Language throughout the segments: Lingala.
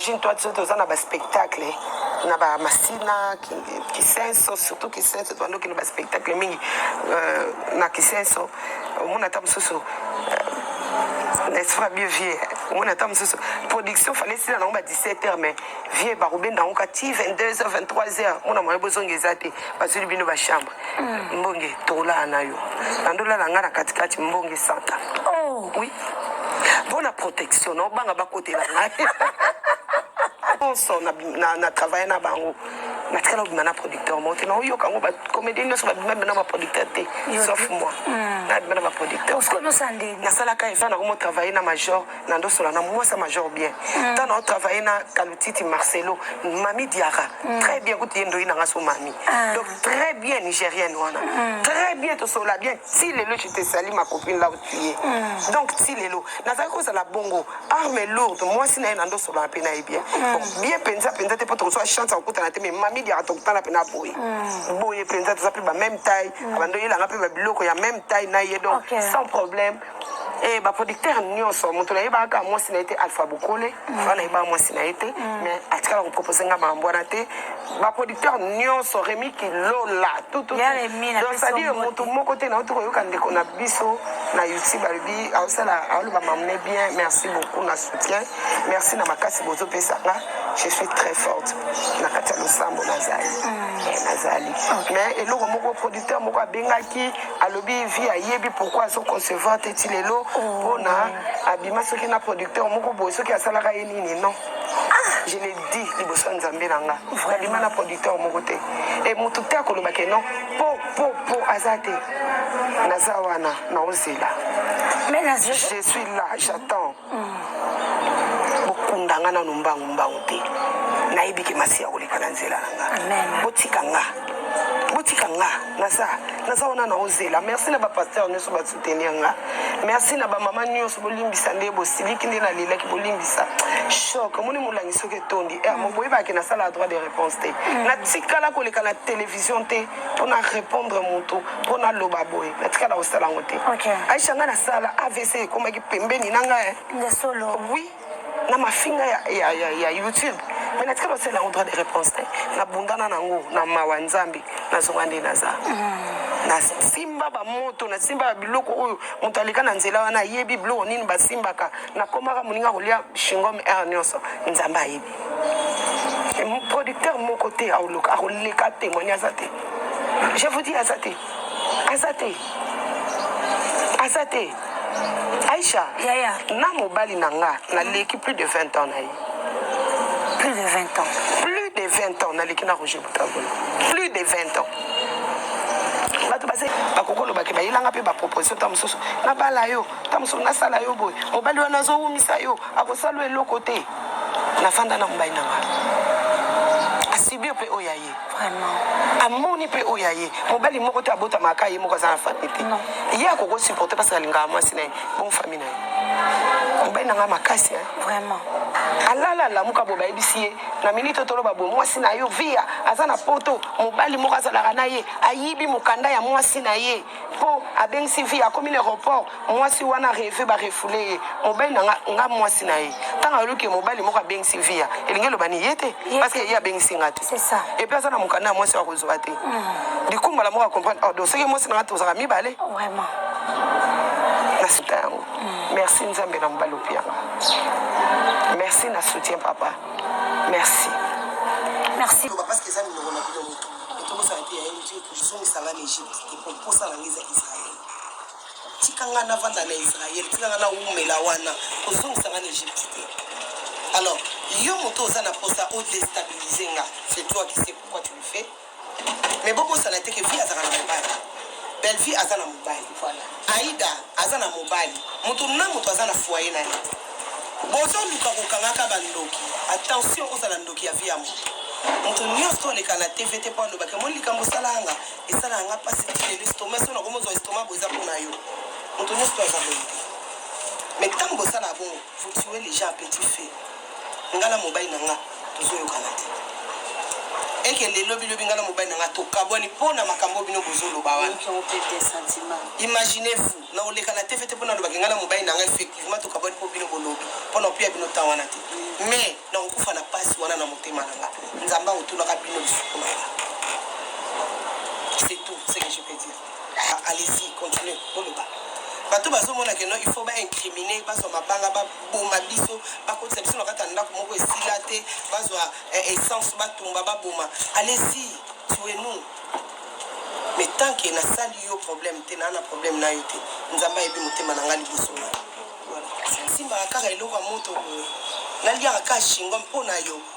Imagine toi biso toza na ba spectacle na ba masina kisenso surtout kisenso tobandaki na ba spectacle mingi euh, na kisenso omona ata mosusu euh, n'est-ce pas bien vieux omona ata mosusu production fale esila nango ba 17 heures mais vieux bakobenda yango ka ti 22 heures 23 heures mona moye bozonga eza te bazwili bino ba chambre Hmm. Mbonge tokolala na yo. Nandola na nga na katikati mbonge santa. Oh. Oui. Bona protection, non banga bakotela ngai. Bonso na na, na travailler na bango. natikala obima na producteur moko te naoyoka yango bacomédien nyonso babima bima na baproducteur te sauf moi nabima na baproducteur nasalaka eza na komo travaille na major na ndo sola na mwasa major bien mm. ntango nao travaille na kalutiti marcelo mami diara mm. très bien kutu ye ndoyi na nga so mami ah. donc très bien nigérienne wana mm. très bien tosola bien ti lelo je te sali ma copine là où tu es mm. donc ti lelo nazalaki kozala bongo arme lourde mwasi na ye na ndo solana mpe na ye bien mm. bon, bien mpenza mpenza te mpo tokozwa chance ya kokutana te mais mami diara tokutana mpe na boye mm. boye mpenza toza mpe ba même taille mm. abandoyelanga mpe babiloko ya même taille na ye donc okay. sans problème Eh, ba producteur nyonso moto nayebaka kaka mwasi na ye te alpha bokole mm. wana nayebaka mwasi na ye te mm. mais atikala kopropose nga makambo wana te ba producteur nyonso remi kilola tututcestadire moto moko te nauti koyoka ndeko na biso na youtube alobi aosala aoloba mamune bien merci beaucoup na soutien merci na makasi bozopesanga je suis très forte na kati ya losambo nazali mm. eh, nazali mais eloko moko producteur moko abengaki alobi vie ayebi pourquoi azo concevoir te ti lelo mpona abima soki na producteur moko boye soki asalaka ye nini non je le dis liboso ya nzambe na nga nabima na producteur moko te e motu te akoloba ke non po po po aza te naza wana naozela je suis là j'attends Hum. Bokunda nga nanu mbangu mbangu te. Nayebi ke masiya koleka na nzela na nga. Amen. Botika nga. Botika nga. Naza naza wana na ozela. Merci na ba pasteur nyoso ba soutenir nga. Merci na ba mama nyoso bolimbisa nde bosiliki nde na lelaki bolimbisa. Choc moni molangi soki etondi. Eh, mm. moboyeba ke na sala droit de réponse te. Mm. Na tikala koleka na télévision te. mpo na repondre motu mpo naloba boye natikala kosala yango te aisha ngai nasala avc ekomaki pembeni na ngai wi na mafinga ya, ya, ya, ya youtube me natikala kosala yango droit de réponse te nabundana nango na mawa nzambe nazonga nde naza mm. nasimba bamoto nasimbaka biloko oyo moto aleka na nzela wana ayebi biloko nini basimbaka nakomaka moninga kolia shingom r nyonso nzambe ayebi producteur moko te aoloka akoleka témoigne aza te je vous dis aza te aza te aza te aisha yaya na mobali na nga naleki plus de 20 ans na ye plus de 20 ans plus de 20 ans naleki na roger butagola plus de 20 ans bato base bakoki olobaki bayelanga mpe baproposition ta mosusu nabala yo ta mosusu nasala yo boye mobali wana azowumisa yo akosala eloko te nafanda na mobali na ngai asibir mpe oyo ya ye amoni mpe oyo ya ye mobali moko te abotamaka ye moko aza na famille te ye akoki kosupporte parce alingaka mwasi na ye bon famille na ye mobali na ngai makasi vraiment alala alamuka bo bayebisi ye na minute oyo toloba bo mwasi na yo via aza na poto mobali moko azalaka na ye ayibi mokanda ya mwasi na ye po abengisi vie akomi na aeroport mwasi wana reve barefule ye mobali na nga mwasi na ye ntango ayoluki mobali moko abengisi via elingi eloba ni ye te parceke ye abengisi nga te epuis aza na mokanda ya mwasi akozwa te hmm. likumbala moko acomprendre ordo oh, soki mwasi na nga tozalaka mibale na suta yango hmm. merci nzambe na mobali opi yango merci na soutien papa merci merci Tobosana te yaye motu ekozongisa nga na Egypte te po mposa na nga eza Israël. Tika nga navanda na Israël, tika nga nawumela wana, kozongisa nga na Egypte te. Alors, yo moto oza na mposa o destabiliser nga, c'est toi qui sais pourquoi tu le fais. Mais bobosana te que vie azalaka na mobali. Bellevue aza na mobali, voilà. Aida aza na mobali mutu na mutu aza na foyer na ye bozo luka ko kanga ka ba ndoki attention ozala ndoki ya vie ya mutu mutu nionso to leka na TV te po aloba ke moni likambo osalaka nga esalaka nga pasi ti lelo estomac soki nakomi ozwa estomac boye eza pona yo mutu nionso pe aza boye te mais tango bosalaka bongo vous tuez les gens à petit feu. Nga na mobali na nga tozoyokana te. Ekende lobi lobi nga na mobali na nga tokabwani mpo na makambo bino bozoloba wana. Imaginez-vous, na oleka na TV te mpo nalobaki nga na mobali na nga effectivement tokabwani mpo bino bolobi mpo na opiya bino temps wana te. Mais nakokufa na pasi wana na motema na nga. Nzambe akotunaka bino lisusu na nga. C'est tout ce que je peux dire. Ah, allez-y, continuez, boloba. bato bazomona keno il faut baincrimine bazwa mabanga baboma biso bakotisa biso na kati ya ndako moko esila te bazwa eh, essence batumba baboma allez-y tue nous mais tant que nasali yo problème te naa na problème na yo te nzambe ayebi motema na ngai liboso na simbaka kaka eloko ya moto boye naliaka kaka shingo mpo na yo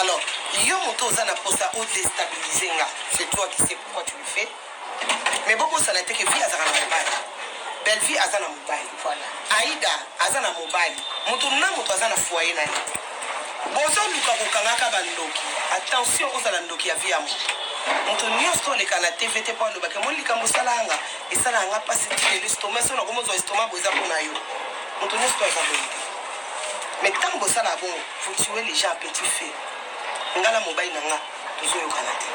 Alors, yo moto oza na posa o destabiliser nga, c'est toi qui sais pourquoi tu le fais. Mais boko sala te que vie azaka na mobali. Bellevue aza na mobali. Voilà. Aïda aza na mobali. Moto na moto aza na foyer na ye. Bozoluka kokangaka bandoki. Attention ozala ndoki ya vie ya moto. Moto nyonso toleka na TV te mpo alobaka moni likambo osalaka nga esalaka nga mpasi ti lelo estoma so nakomozwa estoma boza mpo na yo. Moto nyonso to aza boye. Mais ntango bosalaka bongo Vous tuez les gens à petit feu. Nga na mobali na nga tozoyokana te.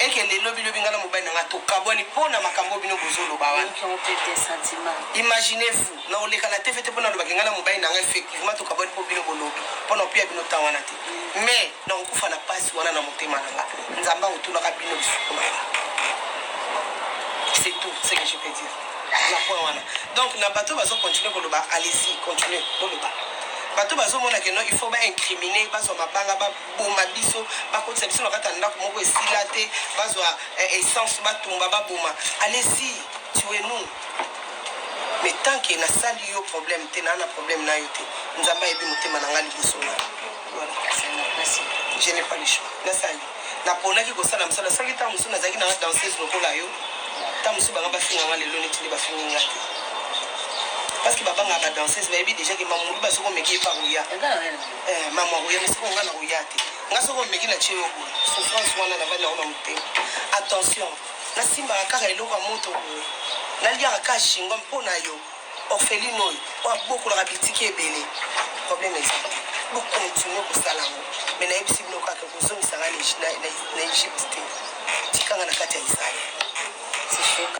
Ekende lobi lobi nga na mobali na nga tokabwani mpo na makambo bino bozoloba wana. Imaginez-vous, na oleka na TV te mpo nalobaki nga na mobali na nga effectivement tokabwani mpo bino bolobi mpo na opiya bino temps wana te. Mais Nakokufa na pasi wana na motema na nga. Nzambe akotunaka bino lisusu na nga. C'est tout ce que je peux dire. Na point wana. Donc na bato bazo continuer koloba, allez-y, continuer koloba. bato bazomona keno il faut baincrimine bazwa mabanga baboma biso bakotisa biso na kati ya ndako moko esila te bazwa eh, essence batumba baboma alesi tue nous mais tant ke nasali yo problème te naa na problème na yo te nzambe ayebi motema na ngai liboso na je n'ai pas le choix nasali naponaki kosala mosala soki ntango mosusu nazalaki nanga danseuse lokola yo ntango mosusu banga bafinganga lelo neti nde bafingi nga te parce que babangaka badanseuse bayebi déjà ke mamulu ba soki omeki epa koya eh, mama koya me soki onga na koya te nga soki omeki na tie yo boye souffrance wana navandi yango na motema attention nasimbaka kaka eloko ya moto boye naliaka kaka shingo mpo na yo Orpheline oyo po abokolaka bitike ebele problème eza te bo continue kosala yango mais nayebisi bino kaka kozongisa nga na egypte te tikanga na kati ya israel sishoka